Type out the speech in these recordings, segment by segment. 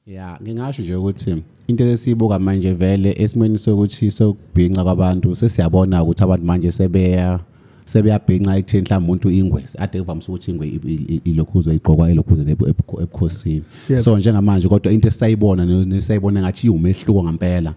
ya ngingasho nje ukuthi into esiyibuka manje vele esimweni sokuthi sokubhinca kwabantu sesiyabona ukuthi abantu manje sebeya sebeyabhinca ekutheni mhlawumbe umuntu ingwe ade kuvamise ukuthi ingwe ilokhuzwe igqokwa elokhuzwe ebukhosini so njengamanje kodwa into esayibona nesayibona ngathi iwumehluko ngempela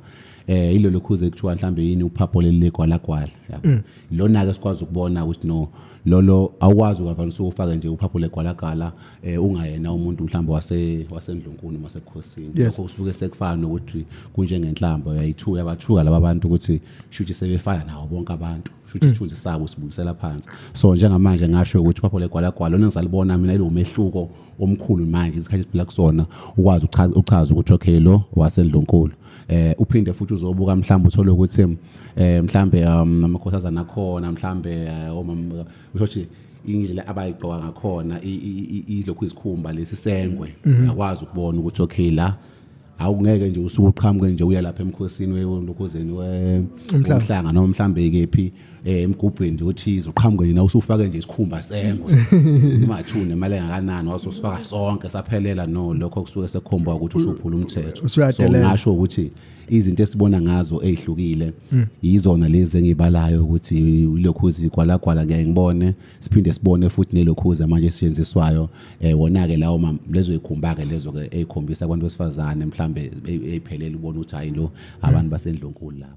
eh ilolokhuze kuthiwa mhlambe yini uphapho leli legwalagwala yabo mm. lona ke sikwazi ukubona ukuthi no lolo awukwazi ukavamise ufake nje uphaphule gwalagala eh ungayena umuntu mhlawumbe wase wasendlunkulu noma sebukhosini Yes. lokho usuke sekufana nokuthi kunjengenhlamba uyayithuka yabathuka laba bantu ukuthi shuthi sebefana nawo bonke abantu shuthi isithunzi sabo sibukisela phansi so njengamanje ngasho ukuthi uphaphule gwalagwala lona ngisalibona mina ilomehluko omkhulu manje isikhathi esiphila kusona ukwazi uchaza ukuthi okay lo wasendlunkulu eh uphinde futhi uzobuka mhlawumbe uthole ukuthi eh mhlawumbe um, amakhosazana akhona mhlawumbe eh, omama oh, ushothi indlela abayigqoka ngakhona ilokhu izikhumba lesisengwe mhm. uyakwazi ukubona ukuthi okay la awungeke nje usuke uqhamuke nje uya lapha emkhosini welokhozeni womhlanga noma mhlambe kephi eh, emgubhweni nje othize uqhamuke nje usufake nje isikhumba sengwe imathune imali engakanani waso sifaka sonke saphelela no lokho kusuke sekukhomba ukuthi usuphula umthetho so ngasho ukuthi izinto esibona ngazo ezihlukile mm. yizona lezi engibalayo ukuthi lokhu zikwalagwala ngeke ngibone siphinde sibone futhi nelokhuza manje esisetshenziswayo eh wona-ke lawo ma- lezo yikhumba-ke lezo-ke ey'khombisa abantu besifazane mhlawumbe ey'phelele ubona ukuthi hhayi lo abantu basendlunkulu laba